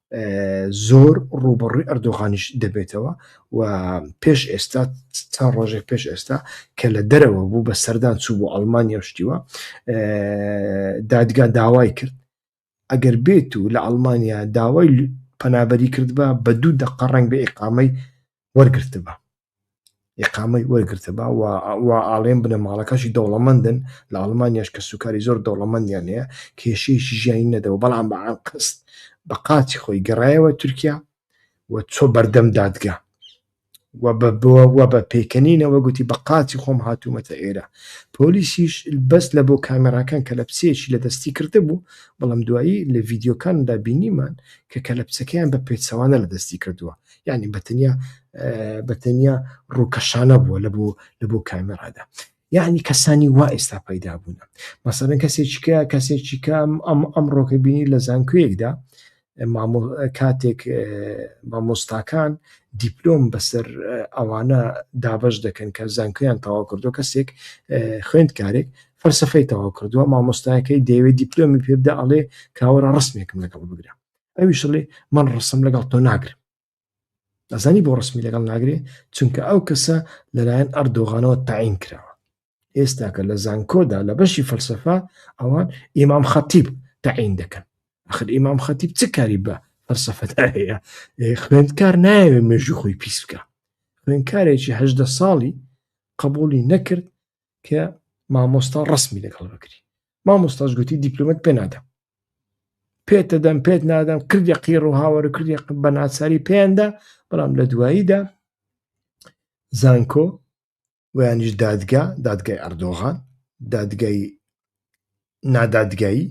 زۆر ڕوبەڕوی ئەردۆغانیش دەبێتەوە و پێش ئێستا تا ڕۆژێک پێش ئێستا کە لە دەرەوە بوو بە سەردان چوو بۆ ئەلمانیا شتیوە دادگا داوای کرد ئەگەر بێت و لە ئەلمانیا داوای پەنابەری کردبا بە دوو دەقە ڕنگ بە ئقامەی وەرگرتبا ئقامەی وەرگتە با وا ئاڵێن بنە ماڵەکەشی دەوڵەمەندن لە ئەڵمانیاش کە سوکاری زۆر دەوڵەمەندیان هەیە کێشەیەکی ژیانی نەدەوە بەڵام بە ئەنقست بە قاچی خۆی گەڕایەوە تورکیا و چۆ بەردەم دادگا و بە بووە و بە پێکەنینەوە گوتی بە قاچی خۆم هاتوومەتە ئێرە پۆلیسیش بەس لە بۆ کامێراکان کە لە پسێکی لە دەستی کردە بوو بەڵام دوایی لە ڤیددیوکاندا بینیمان کە کە لە پسەکەیان بە پێچەوانە لە دەستی کردووە یعنی بەتەنیا بەتەنیا ڕووکەشانە بووە لە بۆ لە بۆ کامێرادا یعنی کەسانی وا ئێستا پەیدا بوون مەسەرن کەسێکیکە کەسێکی کام ئەم ئەم ڕۆکە بینی لە زانکوێکدا کاتێک مامۆستاکان دیپلۆم بەسەر ئەوانە دابش دەکەن کە زانکویان تەوا کردو کەسێک خوێندکارێک فەرسەفەی تەوا کردووە مامۆستایەکەی دەیەوێت دیپلۆمی پێبدا ئەڵێ کاوەرە ڕسمێکم لەگەڵ بگرە ئەویش دەڵێ من ڕسم لەگەڵ تۆ ناگرم ئەزانی بۆ ڕسمی لەگەڵ ناگرێ چونکە ئەو کەسە لەلایەن ئەردۆغانەوە تاین کراوە ئێستاکە لە زانکۆدا لە بەشی فەلسفە ئەوان ئیمام خەتیب تاین دەکەن ئەخر ئیمام خەتیب چ کاری بە فەلسفەدا هەیە خوێندکار نایەوێ مێژوو خۆی پیس بکە خوێندکارێکی هەدە ساڵی قبولی نەکرد کە مامۆستا ڕسمی لەگەڵ بکری مامۆستاش گوتی دیپلومەت پێ نادەم پێت دەدەم پێت نادەم کردی قیڕ و هاوەر و کردی بە ناچاری پێیاندا بەڵام لە دواییدا زانکۆ ویانیش دادگا دادگای ئەردۆغان دادگای نادادگایی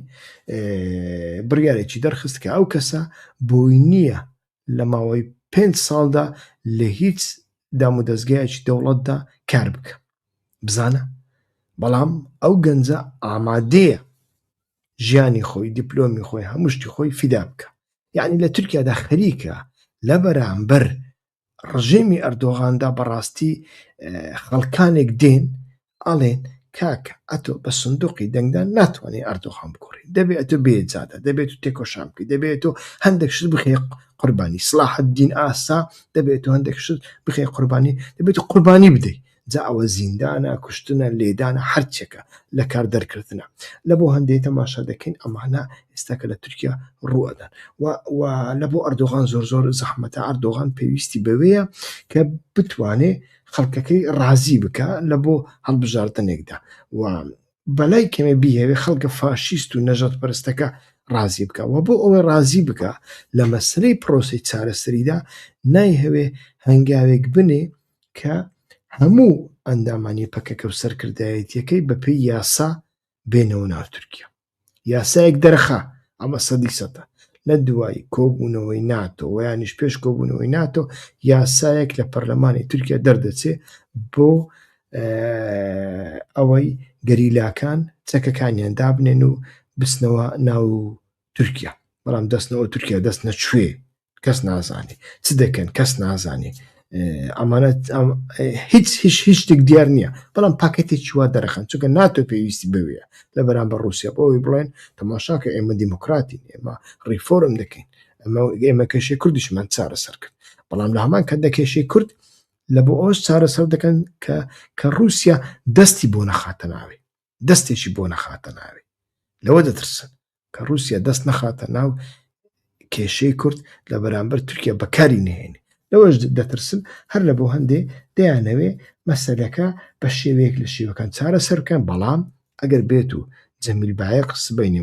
بڕیارێکی دەرخست کە ئەو کەسە بۆی نییە لە ماوەی پێنج ساڵدا لە هیچ دامودەزگایەکی دەوڵەتدا کار بکە بزانە بەڵام ئەو گەنجە ئامادەیە ژیانی خۆی دیپلۆمی خۆی هەمشتی خۆی فیدا بکە یعنی لە تورکیادا خەریکە لە بەرامبەر ڕژێمی ئەردۆغاندا بەڕاستی خەڵکانێک دێن ئەڵێن کاکە ئەتۆ بە سندوقی دەنگدان ناتوانێ ئەردۆغان بگۆڕی دەبێ ئەتۆ بێ جادە دەبێ تۆ تێکۆشان بکەی دەبێ تۆ هەندێک شت بخەی قوربانی سلاحەدین ئاسا دەبێت تۆ هەندێک شت بخەی قوربانی دەبێت تۆ قوربانی بدەی جا ئەوە زیندانە کوشتنە لێدانە هەرچێکە لە کار دەرکردنە لە بۆ هەندێک تەماشا دەکەین ئەمانە ئێستاکە لە تورکیا ڕوەدەن و لە بۆ ئەردۆغان زۆر زۆر زەحمەتە ئەردۆغان پێویستی بەوەیە کە بتوانێ خەڵکەکەی ڕازی بکا لە بۆ هەڵبژاردنێکدا و بەلای کەمێ بیهەوێ خەڵکە فاشیست و نەژادپەرستەکە ڕازی بکا و بۆ ئەوەی ڕازی بکا لە مەسەلەی پرۆسەی چارەسەریدا نایهەوێ هەنگاوێک بنێ کە هەموو ئەندامانی پەکەکە و سەرکردایەتییەکەی بەپێی یاسا بێنەوە ناو تورکیا. یاسایەک دەرخا ئەمە سەدی سەدە لە دوای کۆبوونەوەی ناتۆ ویانیش پێش کۆبوونەوەی ناتۆ یاسایەک لە پەرلەمانی تورکیا دەردەچێ بۆ ئەوەی گەریلاکان چەکەکانیان دابنێن و بستنەوە ناو تورکیا بەڵام دەستنەوە تورکیا دەست نەچێ کەس نازانێ چ دەکەن کەس نازانێ ئەمانە هیچ هیچ هیچ شتێک دیار نییە بەڵام پاکەتی چوە دەرەخەن چونکە ناتۆ پێویستی بوێ لە بەرامبەر رووسیا بۆی بڵێن تەماشاکە ئێمە دیموکراتی ئێمە ڕیفۆرم دەکەین ئەمە ئێمە کەشی کوردیشمان چارەسەر کرد بەڵام لە هەمان کە دەکێشی کورد لە بۆ ئەوش چارەسەر دەکەن کە کە رووسیا دەستی بۆ نەخاتە ناوێ دەستێکی بۆ نەخاتە ناوێ لەوە دەترسن کە رووسیا دەست نەخاتە ناو کێشەی کورد لە بەرامبەر تورکیا بەکاری نهێنێ لەوەش دەترسن هەر لە بۆ هەندێ دەیانەوێ مەسەلەکە بە شێوەیەک لە شێوەکان چارە سەرکەن بەڵام ئەگەر بێت و جەمیل باەق سبینی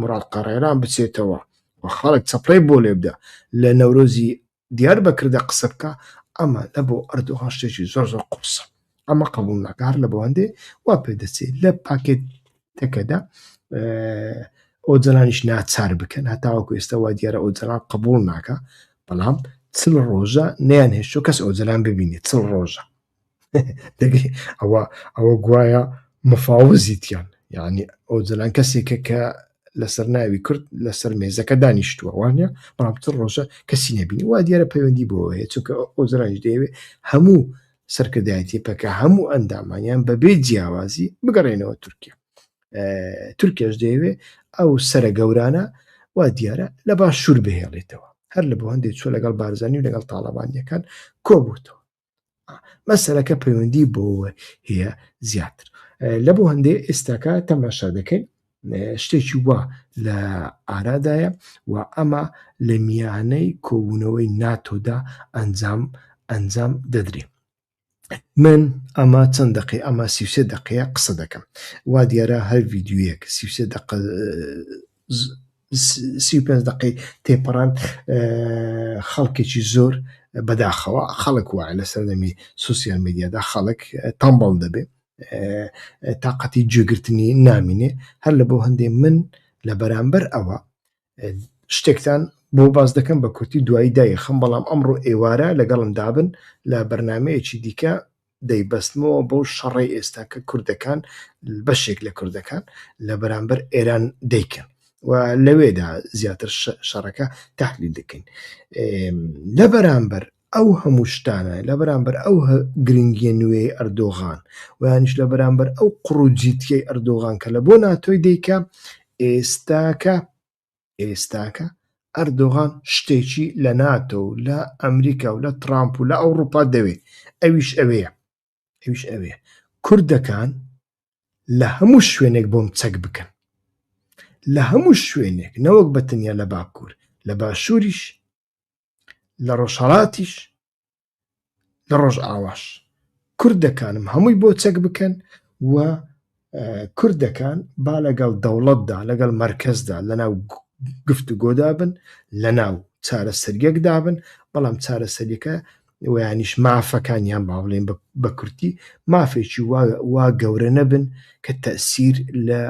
مڕات قەڕێران بچێتەوە و خەڵک چەپڕی بۆ لێبدا لە نەورۆزی دیار بە کردە قسە بکە ئەمە لە بۆ ئەردۆغان شتێکی زۆر زۆر قوڕسە ئەمە قبول ناکە هەر لە بەوەندێ وا پێ دەچێت لە پاکێتەکەدا ئۆجەلانیش ناچار بکەن هەتاوەکو ئێستا وا دیارە ئۆجەلان قبول ناکە بەڵام چل ڕۆژە نیان هێشتۆ کەس ئۆجەلان ببینێت چل ڕۆژە ئەوە ئەوە گوایە مفاوزیتیان یعنی ئەو جلان کەسێکە کە لەسەر ناوی کورد لەسەر مێزەکە دانیشتووە وانە بەڵامتر ڕۆژە کەسی نبینی وا دیارە پەیوەندی بۆ هەیە چونکە ئەو جلانش دەیەوێ هەموو سەرکردایەتی پەکە هەموو ئەندامانیان بەبێ جیاوازی بگەڕێنەوە تورکیا تورکیاش دەیەوێ ئەو سرە گەورانە وا دیارە لە باش شوور بهێڵێتەوە هەر لە بۆ هەندێک چۆ لەگەڵ بارزانانی و لەگەڵ تاالبانیەکان کۆبووتەوە مەسەرەکە پەیوەندی بۆەوە هەیە زیاتر لە بۆ هەندێ ئێستاکە تەماشا دەکەین شتێکی وا لە ئارادایە و ئەمە لە میانەی کۆبوونەوەی ناتۆدا ئەنجام ئەنجام دەدرێ من ئەمە چەند دقی ئەمە سیوسێ دقەیە قسە دەکەم وا دیارە هەر یددیوەک سیوسێ دق سی و پێنج دەقەی تێپەڕاند خەڵکێکی زۆر بەداخەوە خەڵک وایە لە سەردەمی سوسیال میدیادا خەڵک تەمبڵ دەبێت تااقەتی جێگرتنی نامینێ هەر لە بۆ هەندێ من لە بەرامبەر ئەوە شتێکتان بۆ باز دەکەم بە کورتی دوایی دایخم بەڵام ئەمڕۆ ئێوارە لەگەڵم دابن لە بەرنمەیەکی دیکە دەیبەستمەوە بەو شەڕەی ئێستا کە کوردەکان بەشێک لە کوردەکان لە بەرامبەر ئێران دەیکەن و لەوێدا زیاتر شەڕەکە تحلیل دەکەین لە بەرامبەر ئەو هەموو شتانە لە بەرامبەر ئەو گرنگیە نوێی ئەردۆغان ویانش لە بەرامبەر ئەو قڕوجیتیەی ئەردۆغان کە لە بۆ ناتۆی دیکە ئێستاکە ئێستاکە ئەردۆغان شتێکی لە ناتۆ و لە ئەمریکا و لە ترامپ و لە ئەوڕوپا دەوێ ئەویش ئەوەیە ئەویش ئەوەیە کوردەکان لە هەموو شوێنێک بۆم چەک بکەن لە هەموو شوێنێک نەوەک بە تەنیا لە باکوور لە باشووریش لە ڕۆژهەڵاتیش لە ڕۆژ ئاواش کورد دەکانم هەمووی بۆ چەک بکەن و کورد دەکان با لەگەڵ دەوڵەتدا لەگەڵ مرکزدا لەناو گفت و گۆدا بن لە ناو چارە سەریەک دابن بەڵام چارە سەریەکە ویانیش مافەکانیان با بڵێن بە کورتی مافێکی وا گەورە نەبن کە تەسیر لە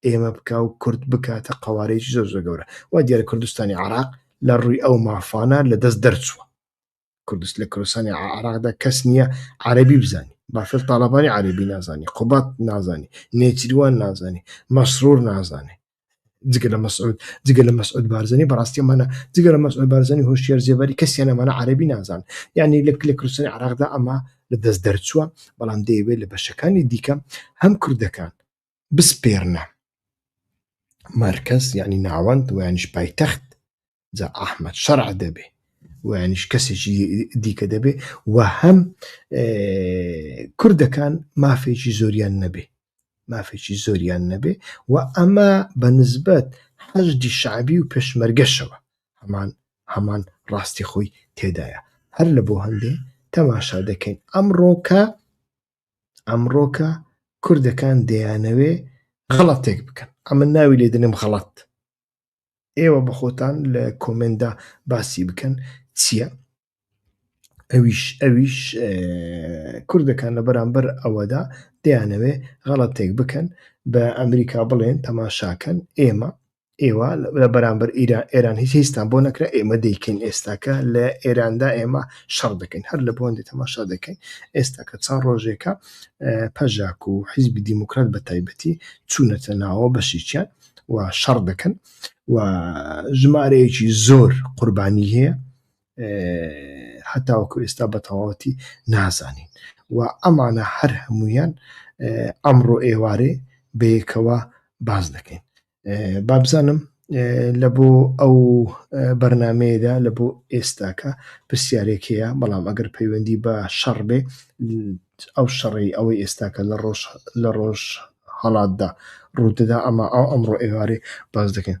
ئێمە بکا و کورد بکاتە قەوارەیەکی زۆر زۆر گەورە وا دیارە کوردستانی عراق لە ڕووی ئەو مافانە لە دەست دەرچووە کوردست لە کوردستانی عراقدا کەس نییە عربی بزانانی باشتر تاالبانی عربی نازانی قوبات نازانی نێچیروان نازانی مەسرور نازانێ جگە لە مەسعود جگە لە مەسعود بارزانانی بەڕاستی مانە جگە لە مەسعود بارزانانی هۆشیار زیێباری کەسیان ئەمانە عربی نازان یعنی لە لە کوردستانی عراقدا ئەمە لە دەست دەرچووە بەڵام دەیەوێت لە بەشەکانی دیکە هەم کوردەکان بسپێرنە مەرکەز یعنی ناوەند ویانش پایتەخت جا ئەحمد شەرع دەبێ ویانش کەسێکی دیکە دەبێ و هەم کوردەکان مافێکی زۆریان نەبێ مافێکی زۆریان نەبێ و ئەمە بە نسبەت حەجدی شعبی و پێشمەرگەشەوە هەمان هەمان ڕاستی خۆی تێدایە هەر لە بۆ هەندێ تەماشا دەکەین ئەمڕۆکە ئەمڕۆکە کوردەکان دەیانەوێ غەڵەتێک بکەن ئەمن ناوی لێ دەنێم غەڵەت ئێوە بە خۆتان لە کۆمێندا باسی بکەن چییە ئەویش ئەویش کوردەکان لە بەرامبەر ئەوەدا دەیانەوێ غەڵەتێک بکەن بە ئەمریکا بڵێن تەماشاکەن ئێمە ئێوە لە بەرامبەر ئێران هیچ هیچستان بۆ نەکرا ئێمە دەیکەین ئێستاکە لە ئێراندا ئێمە شەڕ دەکەین هەر لە بۆن دێتەمە شەر دەکەین ئێستاکە چەند ڕۆژێکە پەژاک و حیزبی دیموکرات بە تایبەتی چوونەتە ناوە بەشیچیان و شەڕ دەکەن و ژمارەیەکی زۆر قوربانی هەیە هەتاوەکو ئێستا بە تەواوەتی نازانین و ئەمانە هەر هەمویان ئەمڕۆ ئێوارێ بەیەکەوە باز دەکەین بابزانم لە بۆ ئەو بەرنمەیەدا لە بۆ ئێستاکە پرسیارێکەیە بەڵام ئەگەر پەیوەندی بە شەڕ بێ ئەو شەڕی ئەوەی ئێستاکە لە ڕۆژ لە ڕۆژ هەڵاتدا ڕوودەدا ئەمە ئەو ئەمڕۆ ئێوارێ باز دەکەین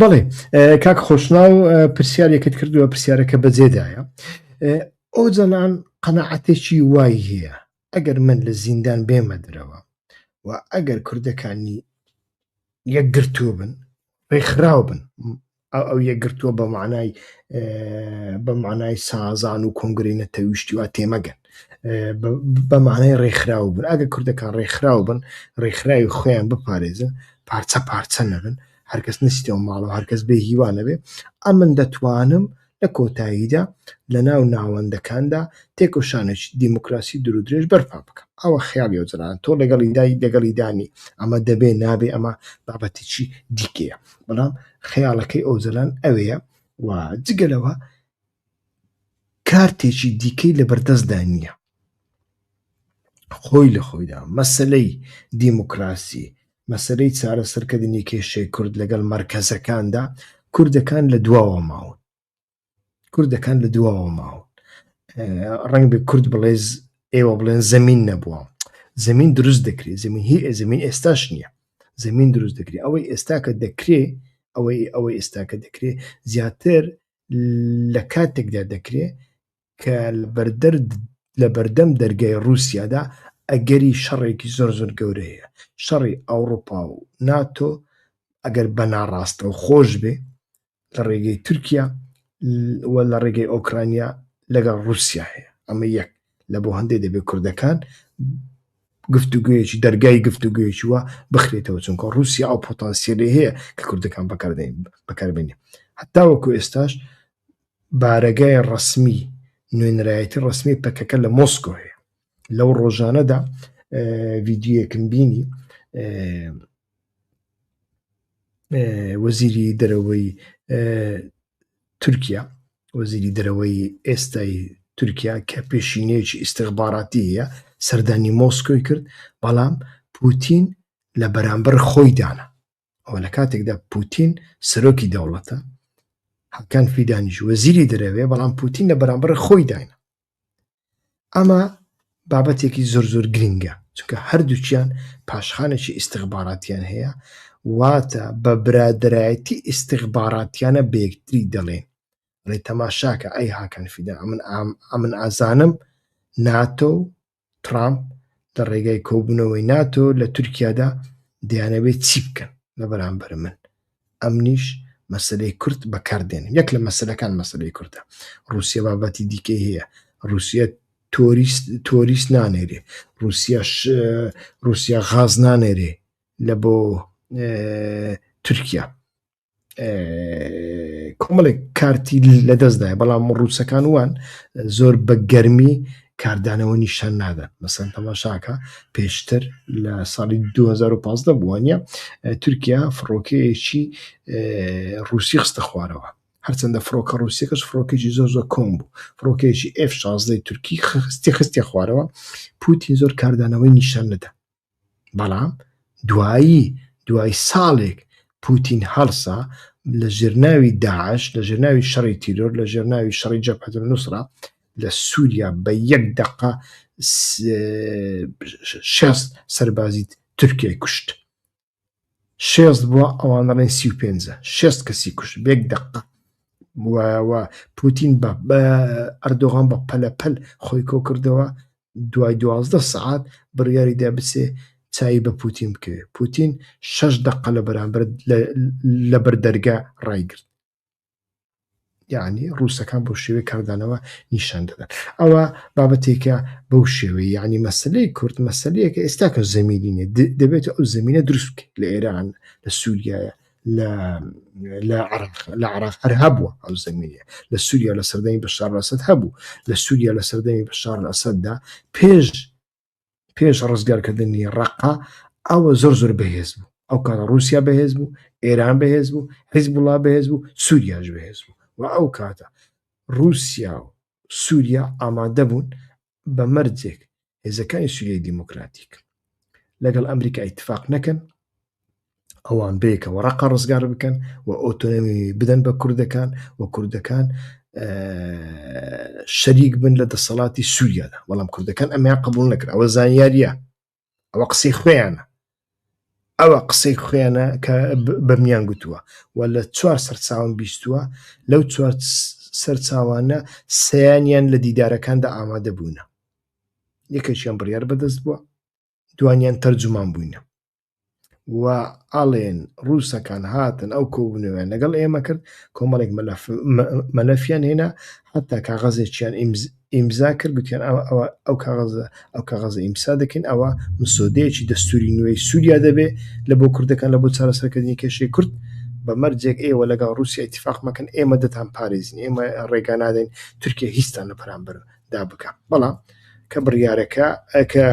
بەڵێ کاک خۆشنا و پرسیارێکت کردووە پرسیارەکە بەجێدایە ئەو جەلان قەنەعاتێکی وای هەیە ئەگەر من لە زیندان بێمە درەوە و ئەگەر کوردەکانی یەکگرتوو بن ڕێکخراو بن ئەو یەکگرتووە بە مانای بە مانای سازان و کۆنگرینە تەویشتیوا تێمەگەن بە مانای ڕێکخراو بن ئەگە کوردەکان ڕێکخراو بن ڕێکخراوی خۆیان بپارێزن پارچە پارچە نەبن هەرکەس نستیەوە ماڵەوە هەرکەس بێ هیوانەبێ ئەمن دەتوانم لە کۆتاییدا لە ناو ناوەندەکاندا تێکۆشانێک دیموکراسی درودرێژ بەرپا بکەم ئەوە خیاڵی وەجران تۆ لەگەڵی دای لەگەڵی دانی ئەمە دەبێ نابێ ئەمە بابەتێکی دیکەیە بەڵام خەیاڵەکەی ئەوجلان ئەوەیە و جگەلەوە کارتێکی دیکەی لەبەردەستدا نییە خۆی لە خۆیدا مەسلەی دیموکراسی مەسلەی چارەسەرکردنی کێشەی کورد لەگەڵ مەرکەزەکاندا کوردەکان لە دواوە ماون کوردەکان لە دواوە ماون ڕنگ بە کورد بڵێز ئێوە بڵێن زەمین نەبووە زمین دروست دەکرێت زمین هی زمین ئێستاش نییە زمین دروست دەکرێت ئەوەی ئێستا کە دەکرێت ئەوەی ئەوەی ئێستا کە دەکرێت زیاتر لە کاتێکدا دەکرێت کە لە بەردەم دەرگای ڕووسیادا ئەگەری شەڕێکی زۆر زۆر گەورە هەیە شەڕی ئەوڕوپا و ناتۆ ئەگەر بە ناڕاستەو خۆش بێ لە ڕێگەی تورکیا لە ڕێگەی ئۆکرانیا لەگەڵ ڕووسیا هەیە ئەمە یەک لە بۆ هەندێ دەبێت کوردەکان گفتوگوێکی دەرگای گفتوگوێکی وە بخرێتەوە چونکە رووسیا ئەو پۆتانسیلی هەیە کە کوردەکان بەکاردێن بەکاربێنێ هەتا وەکو ئێستاش بارەگای ڕسمی نوێنرایەتی ڕسمی پەکەکە لە مۆسکۆ هەیە لەو ڕۆژانەدا ڤیددیوەکم بینی وەزیری دەرەوەی تورکیا، وەزیری دەرەوەی ئێستای تورکیا کە پێشینەیەکی ئیستیخباراتی هەیە سەردانی مۆسکۆی کرد، بەڵام پوتین لە بەرامبەر خۆی دانا. ئەوە لە کاتێکدا پوتین سەرۆکی دەوڵەتە، حەکان فیدانیش وەزیری دەرەوەیە، بەڵام پوتین لە بەرامبەر خۆی دانا. ئەمە بابەتێکی زۆر زۆر گرنگە چونکە هەردووچیان پاشخانێکی ئیسیغباراتیان هەیە واتە بە برادایەتی ئیسیغباراتیانە بەکتری دەڵێن ڕێ تەماشاکە ئەی هاکەن فیدا ئەمن ئەمن ئازانم ناتۆ ترامپ لە ڕێگای کۆبوونەوەی ناتۆ لە تورکیادا دەیانەوێت چی بکەن لە بەرامبەر من ئەمنیش مەسلەی کورد بەکاردێن یەک لە مەسلەکان مەسلەی کوردە رووسە بابەتی دیکەی هەیە رووسە تۆریست تۆریست نانێرێ رووسە رووسە غاز نانێرێ لە بۆ تورکیا کۆمەڵێک کارتی لە دەستدای بەڵام ڕووسەکان وان زۆر بە گەرمی کاردانەوە نیشان نادەن مەسەن تەماشاکە پێشتر لە ساڵی 2015 بووانە تورکیا فڕۆکەیەکی ڕوسی خستە خوارەوە هەرچەندە فڕۆکە ڕوسیەکەش فڕۆکێکی زۆر زۆر کۆم بوو فڕۆکێکی F16 تورکی خستی خستی خوارەوە پوتین زۆر کاردانەوەی نیشان نەدا بەڵام دوایی دوای ساڵێک پوتین هەڵسا لە ژێرناوی داعش لە ژێرناوی شەڕی تیرۆر لە ژێرناوی شەڕی جەپەت نووسرا لە سووریا بە یەک دقە شێست سەربازی تورکیای کوشت شێست بوە ئەوان دەڵێن سی و پێنجە شێست کەسی کوش بێک دەقە وایەوە پوتین بە ئەردۆغان بە پەلەپەل خۆی کۆ کردەوە دوای دوازدە سعات بڕیاری دا بچێ چای بە پوتین بکەوێت پوتین شەش دەقە لە بەرامبەر لە بەردەرگا ڕایگرت یعنی ڕووسەکان بۆ شێوەی کاردانەوە نیشان دەدەن ئەوە بابەتێکە بەو شێوەی یعنی مەسلەی کورد مەسلەیەکە ئێستا کە زمینینە دەبێت ئەو زمینە دروست لە ئێران لە سووریایە لە لە عراق لە عراق هەر هەبووە ئەو زمینە لە سووریا لە سەردەمی بەشار لەسەد هەبوو لە سووریا لە سەردەمی بەشار لەسەددا پێش پێش ڕزگارکردنی ڕقا ئەوە زۆر زۆر بەهێز بوو ئەو کاتە رووسیا بەهێز بوو ئێران بەهێز بوو حیز بڵا بەهێز بوو سووریاش بەهێز بوو و ئەو کاتە رووسیا و سووریا ئامادە بوون بە مەرجێک هێزەکانی سووریای دیموکراتیک لەگەڵ ئەمریکا ئیتفاق نەکەن ئەوان بەیەکەوە ڕقە ڕزگار بکەن و ئۆتۆنمی بدەن بە کوردەکان و کوردەکان شەریک بن لە دەسەڵاتی سووریادا بەڵام کوردەکان ئەمیان قبول نەکرا ئەوە زانیاریە ئەوە قسەی خوێیانە ئەوە قسەی خوێنە کە بەمیان گوتووە و لە چوار سەرچاوم بیستووە لەو چوار سەرچاوانە سیانیان لە دیدارەکاندا ئامادە بوونە یەکەشیان بڕیار بەدەست بووە دوانیان تەرجومان بووینە و ئاڵێن ڕووسەکان هاتن ئەو کۆبوونەوەیان لەگەڵ ئێمە کرد کۆمەڵێک مەلەفیان هێنا حتا کاغەزێکیان ئیمزا کرد گوتیان ئەو کاغەزە ئەو کاغەزە ئیمسا دەکەین ئەوە مسۆدەیەکی دەستوری نوێی سووریا دەبێ لە بۆ کوردەکان لە بۆ چارەسەرکردنی کێشەی کورد بە مەرجێک ئێوە لەگەڵ رووسی اتفاق مەکەن ئێمە دەتان پارێزین ئێمە ڕێگانادەین تورکیا هیچستان لە پرامبەر دا بکەم بەڵام کە بڕیارەکە کە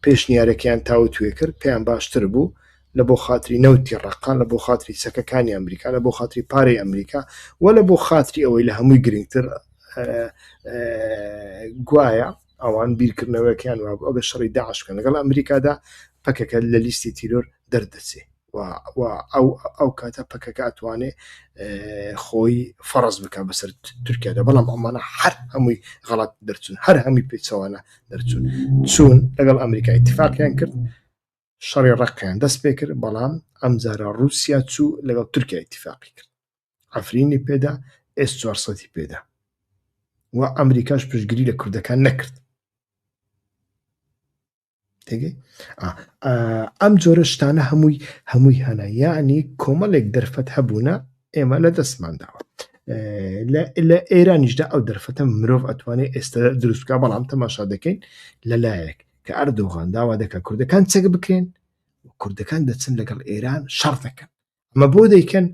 پێشنیارەکەیان تاوتوێ کرد پێیان باشتر بوو لە بۆ خاتری نەوتی ڕقا لە بۆ خاتری چەکەکانی ئەمریکا لە بۆ خاتری پارەی ئەمریکا و لە بۆ خاتری ئەوەی لە هەمووی گرنگتر گوایە ئەوان بیرکردنەوەکیان وابوو ئەگە شەڕی داعش بکەن لەگەڵ ئەمریکادا پەکەکە لە لیستی تیرۆر دەردەچێ و ئەو کاتە پەکەکە ئەتوانێ خۆی فەڕز بکە بەسەر تورکیادا بەڵام ئەمانە هەر هەمووی غەڵات دەرچون هەر هەمی پێچەوانە دەرچون چون لەگەڵ ئەمریکا اتفاقیان کرد شەڕی ڕقیان دەست پێ کرد بەڵام ئەم جارە ڕوسیا چوو لەگەڵ تورکیا اتفاقی کرد ئەفرینی پێدا ئێس 400 پێدا و ئەمریکاش پشتگیری لە کوردەکان نەکرد ئەم جۆرە شتانە هەمووی هەمووی هەنە یعنی کۆمەڵێک دەرفەت هەبوونە ئێمە لە دەستمانداوە لە ئێرانیشدا ئەو دەرفەتە مرۆڤ ئەتوانێت ئێستا دروستکە بەڵام تەماشا دەکەین لەلایەک کە ئەردۆغان داوا دەکە کوردەکان چەک بکرێن کوردەکان دەچن لەگەڵ ئێران شەڕ دەکەن ئەمە بۆ دەیکەن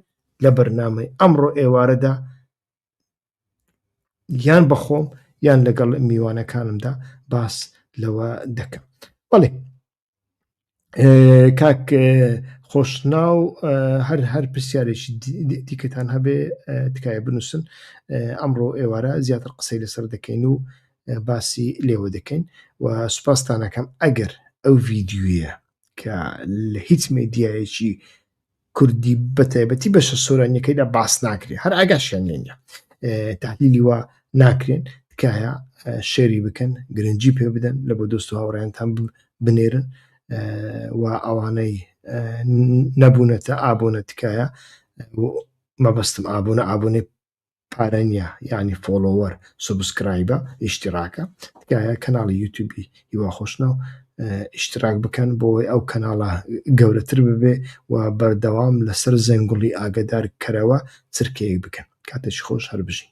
لە بەرنامەی ئەمڕۆ ئێوارەدا یان بەخۆم یان لەگەڵ میوانەکانمدا باس لەوە دەکەم بەڵێ کاک خۆشنا و هەر هەر پرسیارێکی دیکەتان هەبێ تکایە بنووسن ئەمڕۆ ئێوارە زیاتر قسەی لەسەر دەکەین و باسی لێوە دەکەین و سوپاستانەکەم ئەگەر ئەو ڤیددیوە کە لە هیچ مێدیایەکی کوردی بە تایبەتی بەشە سۆرانیەکەیدا باس ناکرێت هەر ئاگاشیان لێ نیە تحلیلی وا ناکرێن تکایە شێری بکەن گرنگجی پێ بدەن لە بۆ دۆست و هاوڕێنتان بنێرن و ئەوانەی نەبوونەتە ئابوونە تکایە مەبەستم ئابوونە ئابوونێ پارە نیە یانی فۆڵۆوەر سوبسکرایبە ئیشتیڕاکە تکایە کەناڵی یوتیوبی هیوا خۆشناو ئیشتراک بکەن بۆی ئەو کەناڵە گەورەتر ببێ و بەردەوام لەسەر زەنگوڵی ئاگدار کەرەوە چرکەیەک بکەن کاتێکی خۆش هەر بژین